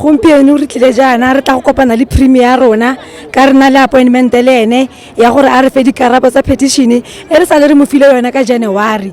gompieno re tlile jaana re tla go kopana le premier ya rona ka re na le appointment le ene ya gore a re fe dikarabo tsa petition e re sa le re mo file yone ka january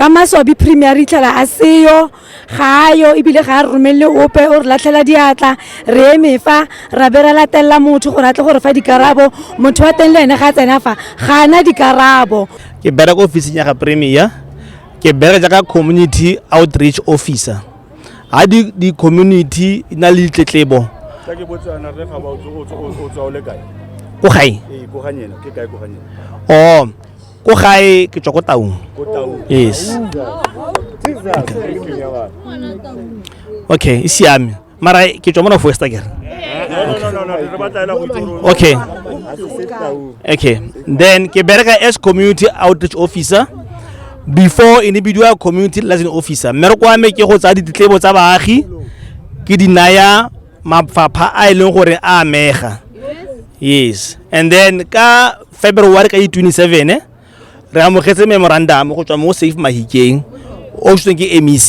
ka maswabi premier re itlhela a seyo ga yo ebile ga a re romelele ope o re latlhela diatla re eme fa ra be ra latelela motho gore a tle gore fa dikarabo motho wa teng le ene ga a tsena fa ga ana dikarabo ke bereka ofising ya ga premier ke bereka jaaka community outreach officer ga di-community na le ditletlebo ko gae o ko gae ke tswa ko taung yes okay e siame mara ke tswa mona foesta kere okay okay then ke bereka as community outreach officer before e ne bidiwa community liaison officer mmereko wa me ke go tsaya ditletlebo tsa baagi ke di naya mafapha a e leng gore a amega yes and then ka february ka di-27 eh, re amogetse memorandum go tswa mo safe mahikeng o tsweng ke mec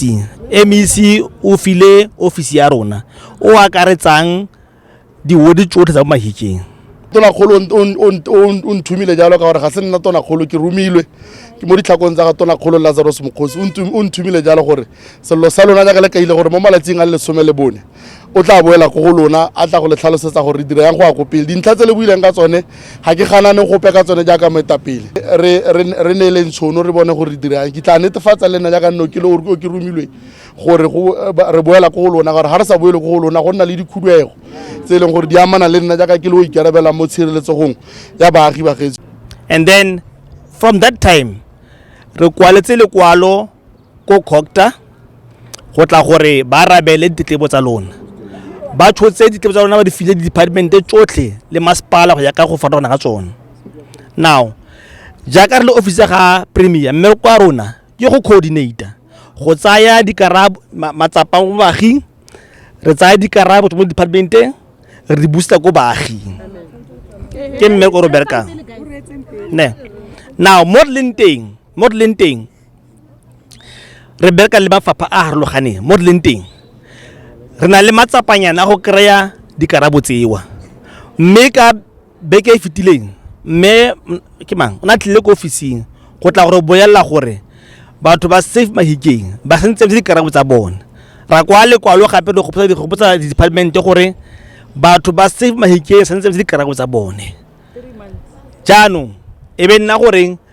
mec o file office ya rona o akaretsang diwodi tsotlhe tsa mahikeng tonakgolo o nthumile jalo ka gore ga se nna tonakgolo ke romilwe ke mo ditlhakong tsa ga tonakgolo lazarus mokgosi o nthumile jalo gore sello sa lona jaaka le kaile gore mo malatsing a le lesome le bone o tla boela ko go lona a tla go le tlhalosetsa gore re dira yang go ya ko pele dintlha tse le buileng ka tsone ga ke ganane gope ka tsone jaaka moetapele re neeleng tshono re bone gore re dira yang ke tla netefatsa le nna jaaka nne o ke romilweng gore re boela ko go lona gore ga re sa boele ko go lona go nna le dikhuduego tse e leng gore di amana le nna jaaka ke le o ikarabelang mo tshireletsegong ya baagi ba gaetsho and then from that time re kwaletse lekwalo ko cocta go tla gore ba arabele ditletlebo tsa lona ba tshotse ditletlebo tsa lona ba di file di-departmente tsotlhe le masepala go ya ka go farologana ga tsone now jaaka re le office ga premier mme kwa rona ke go coordinator go tsaya dikarabo matsapa mo baaging re tsaya dikarabo mo departmenteng re di busa ko baaging ke mme ko re berekang ne now mo re leng teng mo re leng teng re bereka le mafapha a harologaneng mo re leng teng re na le matsapanyana go kry-a dikarabo tsewa mme ka beke e fetileng mme ke mang o ne a tlile ko ofising go tla gore boelela gore batho ba safe mahikeng ba sentse le dikarabo tsa bone ra kwa lekwalo gape re gopotsa di gopotsa di department gore batho ba safe mahikeng sentse le dikarabo tsa bone jaanong e be nna goreng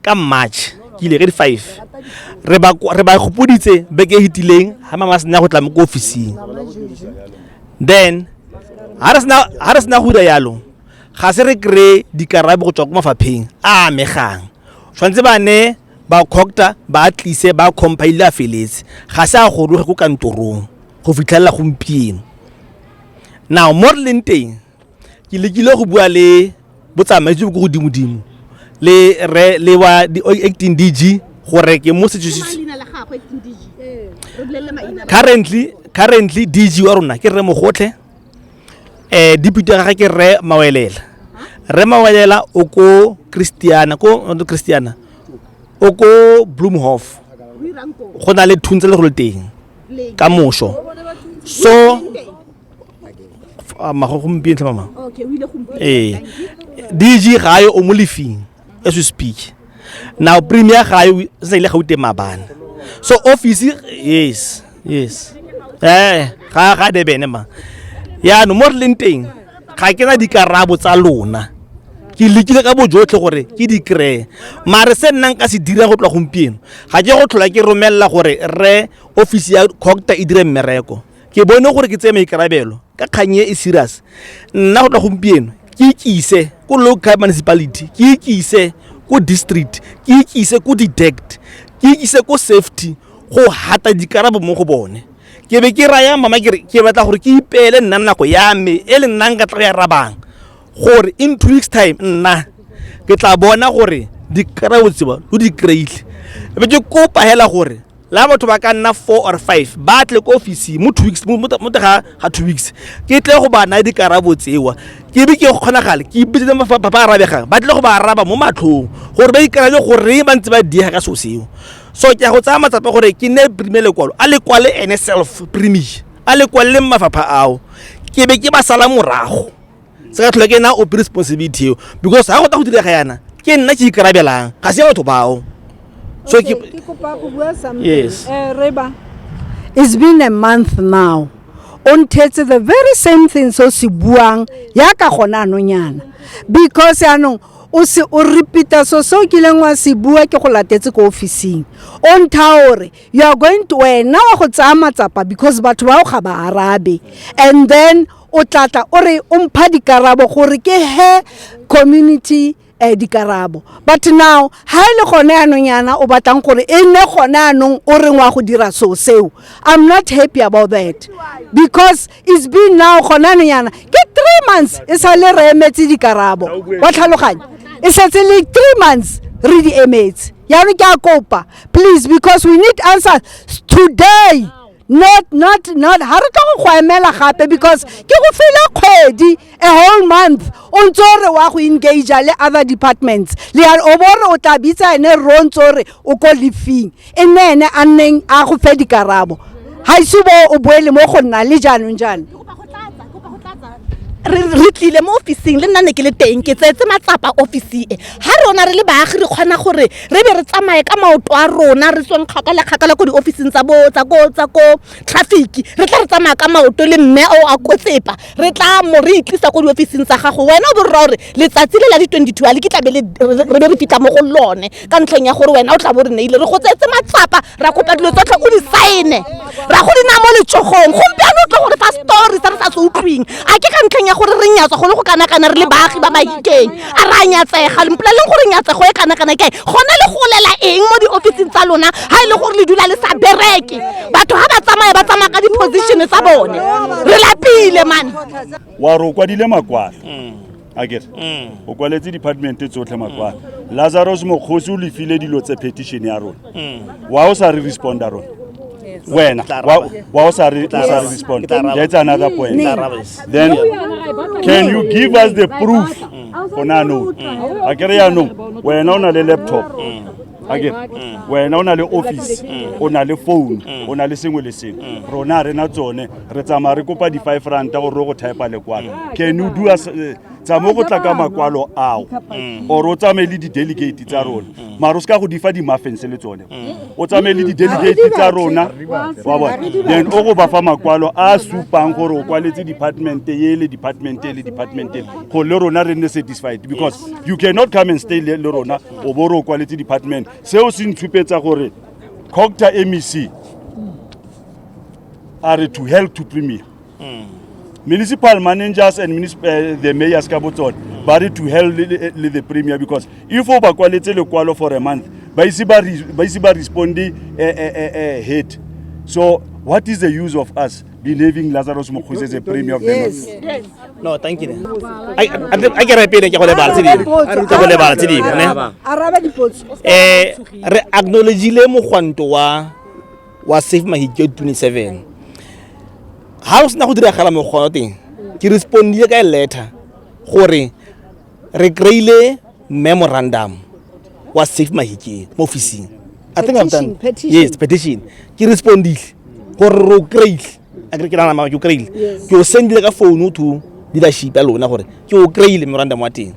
ka march ke ile ka di-five re ba re ba gopoditse beke e hitileng ga mama sena go tla mo ko officing then ga re sena ga re sena go dira yalo ga se re kry-e dikarabe go tswa ko mafapheng a amegang tshwanetse ba ne ba cocta ba tlise ba compile a feletse ga se a goroge ko kantorong go fitlhelela gompieno now mo re leng teng ke lekile go bua le botsamaisi jo bo ko godimodimo le re le wa di- acting dg gore ke mo setswe- leina la gagwe ke dg ee re bolelele maina currently currently dg wa rona ke rre mogotlhe eh deputy ya gage ke rre mawelela rre mawelela o ko christiana ko not christiana o ko bloomhof o irang koo go na le thuntsele go le teng leng ka moso so mago gompieno tlha mama ee dg gae o mo lefing as we speak now premier gae se sa ile gaute mabana so office yes yes eh ga ga debene ma ya no mo re leng teng ga ke na dikarabo tsa lona ke lekile ka bojotlhe gore ke di kry-e mare se nnang ka se dira go tloa gompieno ga ke go tlhola ke romelela gore re office ya cocta e dire mmereko ke bone gore ke tseye maikarabelo ka kgang e e serious nna go tla gompieno ke ikise ko local municipality ke ikise ko district ke ikise ko detect ke ikise ko safety go hata dikarabo mo go bone ke be ke raya mama kere ke batla gore ke ipeele nna nako ya me e le nnang ka tla ya rabang gore in two weeks time nna ke tla bona gore dikarabo tseba lo di kry-ile be ke kopa hela gore la batho ba ka nna four or five ba tle ko office mo two weeks mo ga ga two weeks ke tle go ba naya dikarabo tsewa ke be ke kgonagale ke ipitsetse ba ba arabegang ba tle go ba araba mo matlhong gore ba ikarabe gore ba ntse ba diega ka seo seo so ke a go tsaya matsapa gore ke ne prime lekwalo a lekwale ene self prime a lekwalele mafapha ao ke be ke ba sala morago se ka tlhola ke na ope responsibility eo because ga go ta go direga yana ke nna ke ikarabelang ga se ya batho bao so ke kopa go bua something yes eh reba it's been a month now o nthetse the very same thing so se buang ya ka gona anonyana because anong o se o repeata so se o kileng wa se bua ke go latetse ko officing o ntha gore you are going to wena wa go tsaya matsapa because batho bao ga ba arabe and then o tla tla o re o mpha dikarabo gore ke he community um dikarabo but now ha e le gone anong yana o batlang gore e nne gone anong o reng wa go dira so seo i'm not happy about that because it's been now gone anong yana ke three months e sa le re emetse dikarabo wa tlhaloganya e setse le three months re di emetse yaanong ke a kopa please because we need answers today not not not ha re tlo go go emela gape because ke go fela kgwedi a whole month o ntse o re wa go engage le other departments le ya o bore o tla bitsa ene ro ntse o re o ko lefing e nne ene a nneng a go fe dikarabo ga ise bo o boele mo go nna le jaanong jaana re tlile mo officing le nna ne ke le teng ke tsetse matsapa office e ha rona re le baagi re kgona gore re be re tsamaye ka maoto a rona re tsweng kgakala kgakala ko di-officing tsa tsa ko tsa ko traffic re tla re tsamaya ka maoto le mme o a kotsepa re tla mo re itlisa ko di-officing tsa gago wena o bo rra gore letsatsi le la di-twenty two a le ke tlabe re be re fitlha mo go lone ka ntlheng ya gore wena o tla bo re neile re go tsetse matsapa ra kopa dilo tsotlhe o di saene ra go di na mo letsogong gompiano o tle gore fa story se re sa se utlwing a ke ka ntlheng ya gore re nyatswa go le go kanakana re le baagi ba mahikeng a re a nyatsega lempoleleng gore nyatsego e kanakana kae gona le golela eng mo diofising tsa lona ga e le gore le dula le sa bereke batho ga ba tsamaya ba tsamaya ka di-position tsa bone re lapile mane wa re o kwadile makwalo a kere mm. o kwaletse departmente tsotlhe makwalo mm. lazarus mokgosi o lefile dilo tse petition ya rona mm. wa o sa re responda rona wena wa o sa re respond that's another point then can you give us the proof gona anong a kere yaanong wena o na le laptop wena o na le office mm. o na le phone mm. o na le sengwe le sengwe mm. rona re na tsone re tsamaya re kopa di-five ranta gore re go typa lekwalo can you do us eh, tsamo go tla ka makwalo ao or o tsamaye le di-delegate tsa rona mara o se ka go difa di-muffins le tsone o tsamaye le di-delegate tsa rona wa bona then o go ba fa makwalo a supang gore o kwaletse department ele department ele department ele gore le rona re nne satisfied because you cannot come and stay le rona o bo re o kwaletse department seo se ntshupetsa gore cocta mec a re to help to premier mm. municipal managers and uh, the mayors ka botsone ba re to help le, le, le the premier because if o ba kwaletse lekwalo for a month ba ise ba responde uh, eh, uh, eh, uh, eh, head so what is the use of us believing Lazarus Mokgosi is a premier of the North. Yes. No, thank you. I I ke re pele ke go lebala tse dingwe. Ke go lebala tse dingwe, ne? Araba dipotso. Eh, re acknowledge le mogwanto wa wa Safe Mahikyo 27. Ha o sena go diragala mogwanto teng, ke respondile ka letter gore re kry-ile memorandum wa safe mahikeng mo officing i think i've done yes petition ke respondile gore ro kry-ile a kry ke nana mama ke o kry-ile ke o sendile ka founu to leadership ya lona gore ke o kry-ile memorandum wa teng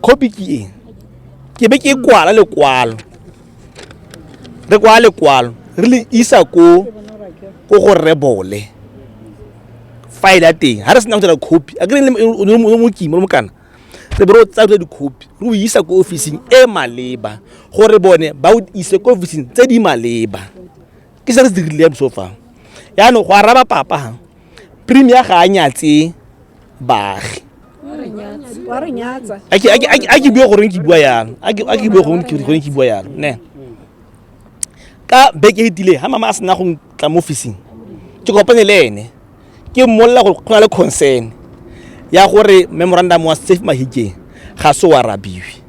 copy ke eng ke be ke kwala lekwalo re kwa lekwalo re le isa ko ko go rebole file ya teng ga re sena go dira copy a kere mokima le mokana re be re o tsaya dira dikhopi re o isa ko ofising e maleba gore bone ba o ise ko ofising tse di maleba ke se re se dirile ya boso fa yaanong go araba papa ha premier ga a nyatse baagi a ke bue goreng ke bua yalo a ke bue goreng ke bua yalo ne ka beke e tile ha mama a sena go tla mo officing ke kopane le ene ke mmolelela gore go na le concern ya gore memorandum wa safe mahikeng ga se o arabiwe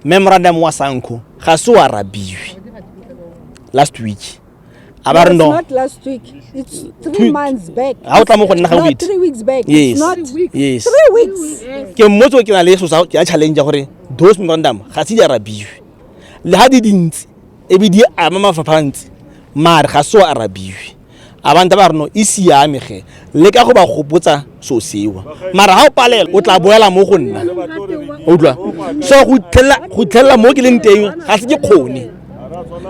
memorandum wa sanco ga se o arabiwe last week a ba re no not last week it's three months back ha o tla mo go nna ga week three weeks back yes not yes three weeks ke mmotso ke na le so sa ya challenge gore those memorandum ga se di arabiwe le ha di dintsi e be di ama mafapha ntsi mare ga se o arabiwe abantu ba re no e siame ge le ka go ba gopotsa so sewa mara ga o palela o tla boela mo go nna utlwa so go itlhelela mo ke leng teng ga se ke kgone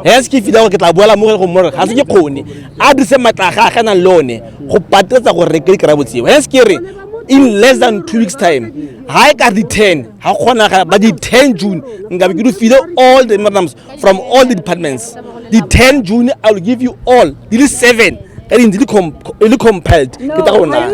ga se ke fila gore ke tla boela mo go more ga se ke kgone a dirise matla ga ga nang le one go patetsa gore re ke di kry-a botsheo ga se ke re in less than two weeks time ga e ka di ten ga kgonagala ba di ten june nkabe ke di file all the madams from all the departments the 10 june i will give you all di le seven ka dintsi di le compiled ke tsa go naya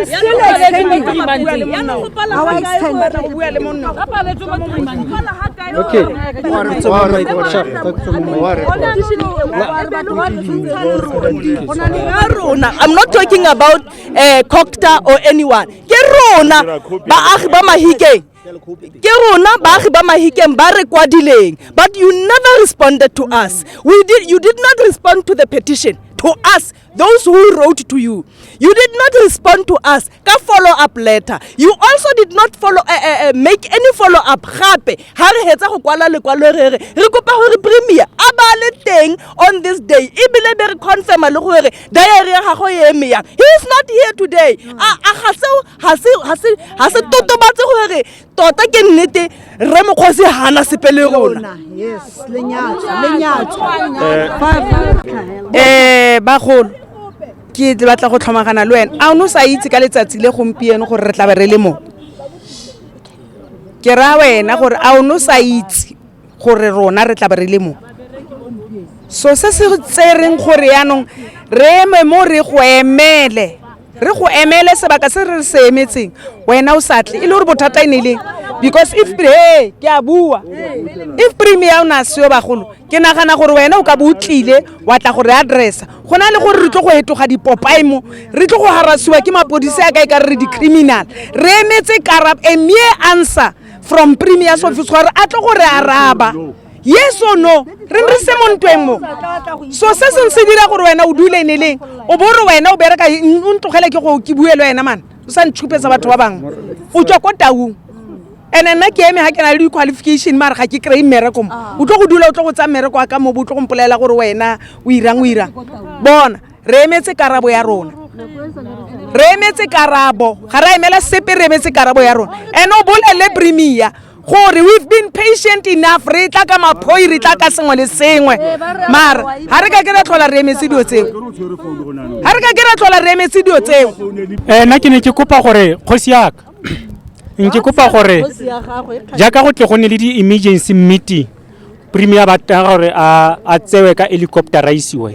i'm not talking about uh, cocta or anyone ke rona baagi ba mahikeng ke rona baagi ba mahikeng ba re kwadileng but you never responded to us we did, you did not respond to the petition to us those who wrote to you you did not respond to us ka follow up letter you also did not follow uh, uh, make any follow up gape ga re hetsa go kwala lekwalo re re re kopa gore premier a ba le teng on this day ebile be re confirma le gore diary ya gago e eme yang he is not here today a ga seo ga se totobatse gore tota ke nnete rre mokgosi gana sepe le rona um bagolo ke batla go tlhomagana le wena a o ne o sa itse ka letsatsi le gompieno gore re tla be re le mo ke raya wena gore a o ne o sa itse gore rona re tla be re le mo so se se tsereng gore yaanong re eme mo re go emele re go emele sebaka se re se emetseng wena o sa tle e le gore bothata e ne leng because if he ke a bua if premier o ne a seyo bagolo ke nagana gore wena o ka bo o tlile wa tla gore addressa go na le gore re tlo go etoga dipopae mo re tlo go harasiwa ke mapodisi a ka e ka re re di-criminal re emetse karab a mere answer from premier's office gore a tlo go re araba yes or no re re se mo ntweng mo so se seng se dira gore wena o dule ne leng o bo re wena o bereka o ntlogele ke go ke bue le wena mana o sa ntšhupetsa batho ba bangwe o tswa ko taung and nna ke eme ga ke na le di-qualification mare ga ke kry-e mmereko mo ah. o tlo go dula o tlo go tsaya mmereko wa ka mo bo o tlo go mpolelela gore wena o irang o irang bona re emetse karabo ya rona re emetse karabo ga ra emela sepe re emetse karabo ya rona and o bolele premier gore we've been patient enough re tla ka maphoi re tla ka sengwe le sengwe mara ga re ka ke ra tlhola re emetse dilo tseo ga re ka ke ra tlhola re emetse dilo tseo eh, nna ke ne ke kopa gore kgosi yaka nke kopa gore jaaka go tle go ne le di-emergency meeting premier ba tega gore a a tsewe ka helicopter a isiwe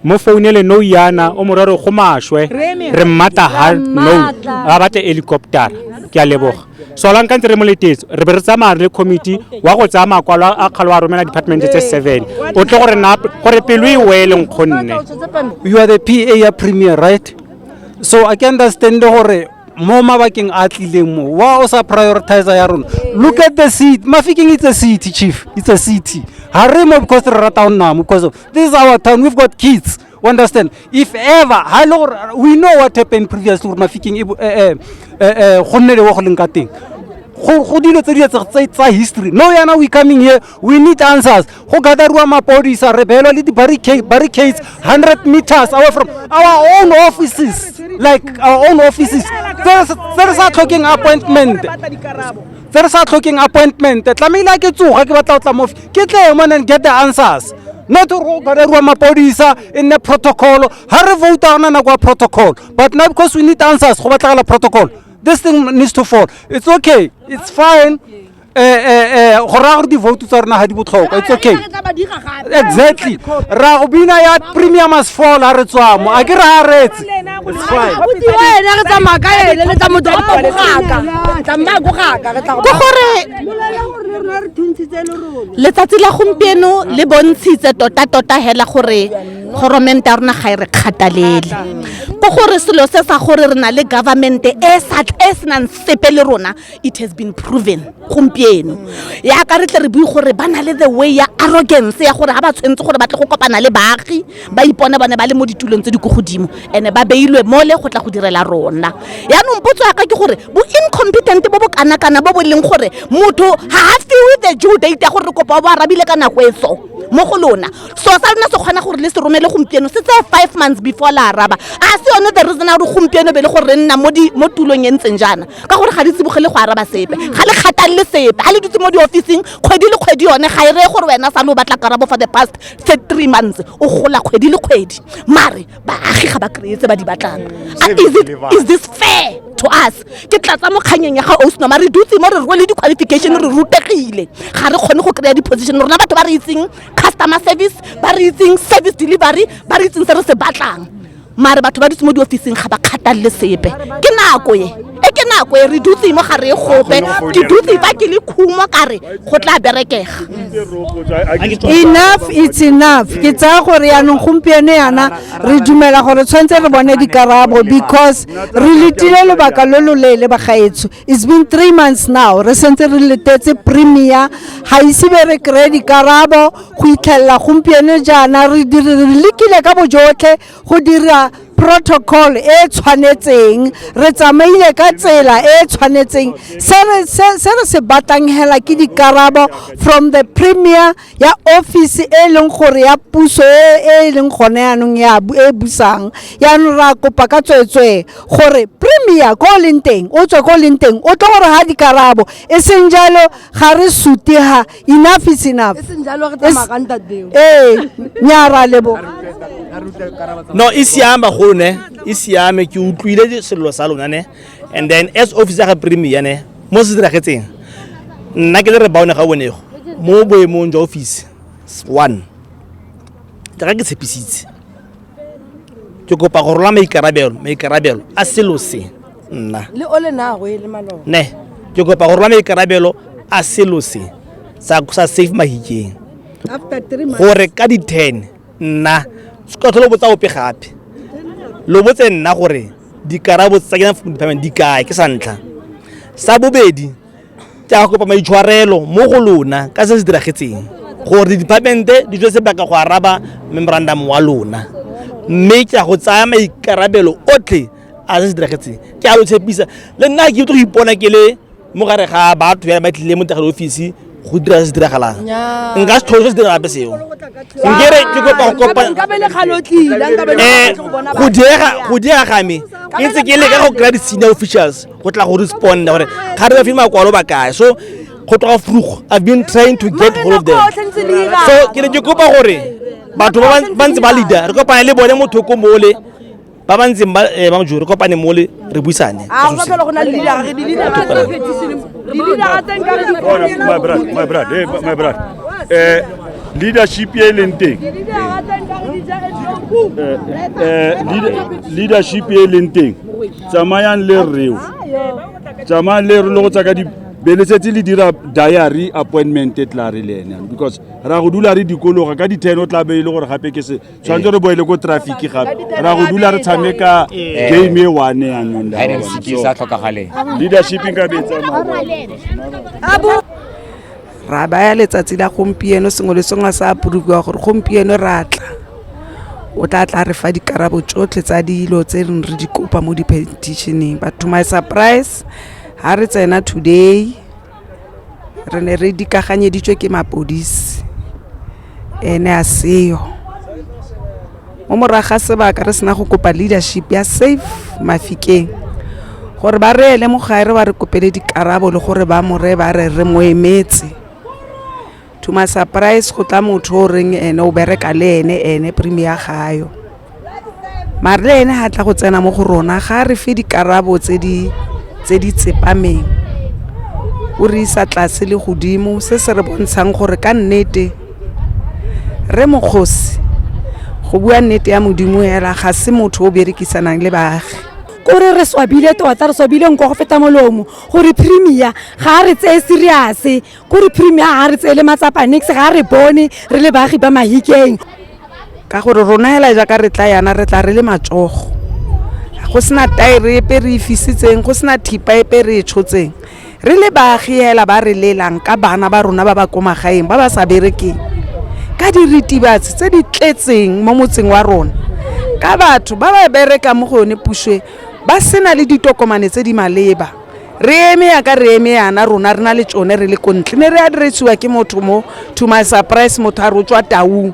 mo founele no yana o morero go mashwe re mmata ha no a batle helicopter ke a leboga so la nkantse re mo letetso re be re tsamaya le committee wa go tsaya makwalo a kgalo a romela department tse seven o tle gore na gore pelo e wele nkgonne you are the pa ya premier right so a ke understand gore mo mabakeng a tlileng mo wa o sa prioritizer ya rona look at the city mafikeng it's a city chief it's a city ha re mo because re rata go nna mo because of this is our town we've got kids we understand if ever ha le gore we know what happened previously gore mafikeng e bo- eh, eh, eh, eh, go nne le wo go leng ka teng go go dilo tse di etse tsa history no yana we coming here we need answers go gatherwa mapodisa re beelwa le di-barricades 100 meters away from our own offices like our own offices tse re sa tlhokeng appointment tse re sa tlhokeng appointment tlamehile a ke tsoga ke batla go tla mofi ke tle mo and get the answers not go gatherwa mapodisa e nne protocol ga re vouta gona nako ya protocol but now because we need answers go batlagala protocol this thing needs to fall it's okay it's fine eh, eh, eh, go raya gore di-vote tsa rona ga di botlhokwa it's okay exactly ra go bina ya premium as fall a re tswamo a ke re a retse It's fine. abuti wa ene re tsamaya ka ene le tsa motho gapa go gaka tsamaya go gaka re tla go ke gore letsatsi la gompieno le bontshitse tota-tota hela gore goromente ya rona ga e re kgathalele ke gore selo se sa gore re na le government e sa e senang sepe le rona it has been proven gompieno yaka re tle re bue gore ba na le the way ya arrogance ya gore ga ba tshwanetse gore ba tle go kopana le baagi ba ipone bone ba le mo ditulong tse di ko godimo and ba beilwe mole go tla go direla rona yaanong potso yaka ke gore bo incompetent bo bo kanakana bo bo leng gore motho ga a fiwe the due date ya gore re kopa bo arabile ka nako e so mo go lona so sa lona se kgona gore le se romele gompieno se tseye five months before la araba a se yone the reason ya gore gompieno be le gore re nna mo tulong e ntseng jaana ka gore ga di tsibogele go araba sepe ga le kgatang le sepe ga le dutse mo diofising kgwedi le kgwedi yone ga e reye gore wena sa le o batla karabo for the past se three months o gola kgwedi le kgwedi mare baagi ga ba kry-e tse ba di batlang A- is it- is this fair to us ke tlatsa mo kganyeng ya ga osnoma re dutse mo re rwele di-qualification re rutegile ga re kgone go kry-a di-position rona batho ba re itseng customer service ba re itseng service delivery ba re itseng se re se batlang mare batho ba dutse mo diofising ga ba kgathalele sepe ke nako e e ke nako e re dutse mo gare gope ke dutse fa ke le khumo kare go tla berekega enough it's enough ke tsaya gore yaanong gompieno yana re dumela gore tshwanetse re bone dikarabo because re letile lobaka lo lo leele bagaetsho it's been three months now re sentse re letetse premier ga ise be re kry-e dikarabo go itlhelela gompieno jaana re lekile ka bojotlhe go dira protocol e e tshwanetseng re tsamaile ka tsela e e tshwanetseng se re se batlang hela ke dikarabo from the premier ya office e e leng gore ya puso e e leng gone yaanong e busang yaanong ra kopa ka tsweetswee gore premier ko o leng teng o tswe ko o leng teng o tlo gore ga dikarabo e seng jalo ga re sutega enough is enough e seng jalo re tsamaya ka ntate beo ee nya ra lebo no e siame bagolo ne e siame ke utlwile selelo sa lona ne and then as office ya ga premier ne mo se diragetseng nna ke le re baone ga bonego mo boemong jwa office one jaaka ke tshepisitse ke kopa go rola maikarabelo maikarabelo a selo se nna le o le nago e le maloba ne ke kopa gore ba maikarabelo a selo se sa sa safe mahikeng after three months gore ka di 10 nna se ka tlhole o botsa ope gape lo botse nna gore dikarabo tsa kena food department di kae ke sa ntlha sa bobedi ke a kopa maitshwarelo mo go lona ka se se diragetseng gore di-departmente di tswe sebaka go araba memorandum wa lona mme ke a go tsaya maikarabelo otlhe a se se diragetseng ke a lo tshepisa le nna ke tlo go ipona ke le mo gare ga batho ya ba tlile mo tagale ofisi go dira se se diragalang nka se tlhoso se dira gape seo nkere ke kopa go kopa eh, go diega ga me ke ntse ke leka go kry-a di-senior officials go tla go responda gore ga re ba file makwalo ba kae so go tloga frugo i've been trying to get hold of them so ke ne ke kopa gore batho ba ntse ba leader re kopane le bone motho ko mole ba ba ntseng ba eh, ba jore kopane mole re buisane a go tlhola go na le dilera re dilera tsa petition dilera tsa nka re my brother my brother eh my brother eh leadership e leng teng eh, leadership e leng teng tsamayang le reo tsamayang le re lo go tsaka di beletsetse le dira diary appointment e tla re le ene because ra go dula re dikologa ka di-ten o tla be e le gore gape ke se tshwanetse re boele ko traffic gape ra go dula re tshameka eh. game e one yanong leadership nka betsamao ra baya letsatsi la gompieno sengwe le sengwe sa apurukiwa gore gompieno ra tla o tla tla re fa dikarabo tsotlhe tsa dilo tse reng re di kopa mo dipetitioneng but to my surprise ga re tsena today re ne re dikaganyeditswe ke mapodisi ene a seyo mo morago ga sebaka re sena go kopa leadership ya safe mafikeng gore ba re ele mogare wa re kopele dikarabo le gore ba more ba re re mo emetse to my surprise go tla motho o reng ene o bereka le ene ene premier gayo mare le ene ga tla go tsena mo go rona ga re fe dikarabo tse di tse di tsepameng o re isa tlase le godimo se se re bontshang gore ka nnete re mokgosi go bua nnete ya modimo hela ga se motho o berekisanang le baagi kore re swabile tota re swabile nko go feta molomo gore premier ga a re tseye seriase ko re premier ga re tseele matsapa nix ga re bone re le baagi ba mahikeng ka gore rona hela jaaka re tla yana re tla re le matsogo go sena taere epe re e fisitseng go sena thipa epe re e tshotseng re le baagi hela ba re lelang ka bana ba rona ba ba ko magaeng ba ba sa berekeng ka diritibatsi tse di tletseng mo motseng wa rona ka batho ba ba berekang mo go yone puso e ba sena le ditokomane tse di maleba re eme yaka re eme yana rona re na le tsone re le ko ntle ne re adiresiwa ke motho mo to my surprise motho a rotswa taung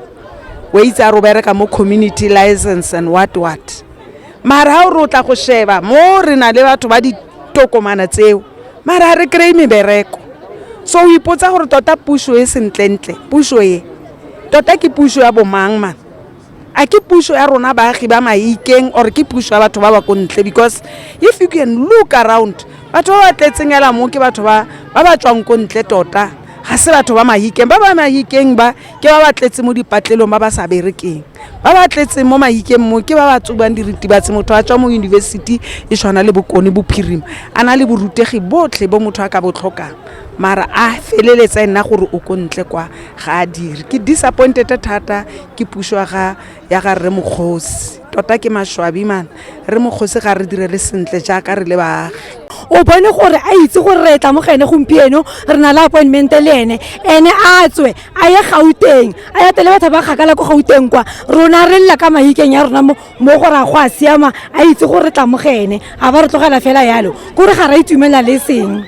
o itse a ro bereka mo community license and what what mara ha o re o tla go sheba mo re na le batho ba ditokomana tseo mara ha re kry-e mebereko so o ipotsa gore tota puso e sentlentle puso e tota ke puso ya bomang man a ke puso ya rona baagi ba maikeng or ke puso ya batho ba ba ko ntle because if you can look around batho ba ba tletseng ela mo ke batho ba ba ba tswang ko ntle tota ga se batho ba mahikeng ba ba mahikeng ba ke ba ba tletse mo dipatlelong ba ba sa berekeng ba ba tletseng mo mahikeng mo ke ba ba tsubang diritibatsi motho a tswa mo university e tshwana le bokone bophirima a na le borutegi botlhe bo motho a ka bo tlhokang mara a feleletsa e nna gore o ko ntle kwa ga a dire ke disappointed thata ke puso ya ga ya ga rre mokgosi tota ke maswabi man re mokgosi ga re direle sentle jaaka re le baagi o bone gore a itse gore re tla mo ga ene gompieno re na le appointment le ene ene a tswe a ye gauteng a ya tele batho ba kgakala ko gauteng kwa rona re lela ka mahikeng ya rona mo gore a go a siama a itse gore re tla mo ga ene ga ba re tlogela fela yalo kore ga ra itumelela le seng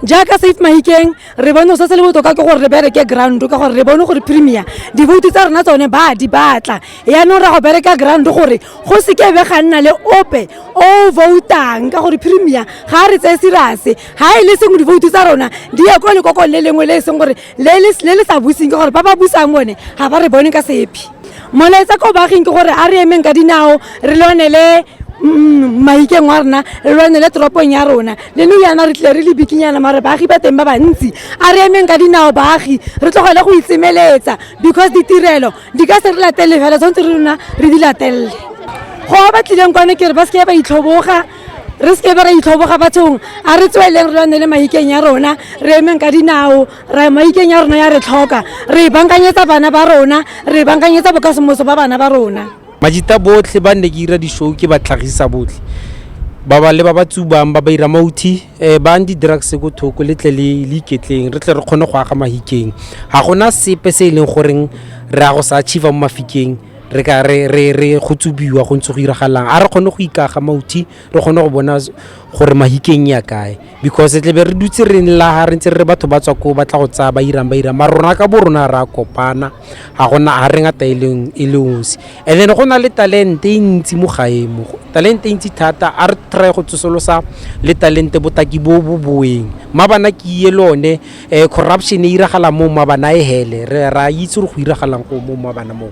jaaka safe mahikeng re bone se se le botoka ke gore re bereke ground ka gore re bone gore premier divoutu tsa rona tsone ba di batla yaanong ra go bereka ground gore go seke be ga nna le ope o voutang ka gore premier ga a re tseye serase ga e le sengwe divoutu tsa rona di ya ko lekokong le lengwe le e seng gore le le sa buseng ka gore ba ba busang bone ga ba re bone ka sepe molaetsa ko baaging ke gore a re emeng ka dinao re lwanele mm, maikeng wa rona re lwanele toropong ya rona le nou yana re tlile re le bikinyana mare baagi ba teng ba bantsi a re emeng ka dinao baagi re tlogele go itsemeletsa because ditirelo di ka se re latelele fela tshwanetse re rona re di latelele go ba batlileng kwane ke re ba seke ba itlhoboga re seke ba ra itlhoboga bathong a re tsweleng re lwanele maikeng ya rona re emeng ka dinao re maikeng ya rona ya re tlhoka re e bankanyetsa bana ba rona re e bankanyetsa bokasemoso ba bana ba rona majita botlhe ba nne ke ira di-show ke ba tlhagisa botlhe ba ba le ba ba tsubang ba ba ira mauthi um eh, bang di-drugs ko thoko le tle le iketleng re tle re kgone go aga mahikeng ga gona sepe se e leng goreng re ya go sa achieva mo mafikeng re ka re go tsubiwa go ntse go iragalang a re kgone go ikaga mauthi re kgone go bona gore mahikeng ya kae because tle be re dutse re nlaga re ntse re re batho ba tswa ko ba tla go tsaya ba irang ba irang mara rona ka bo rona re a kopana ga gona ga re ngata e leng- e le osi and then go na le talente e ntsi mo gae mo talente e ntsi thata a re try go tsosolosa le talente botaki bo bo boeng mabana ke iye le one um corruption e iragala mo mabana e hele re ra itse gore go iragalang go mo mabana moo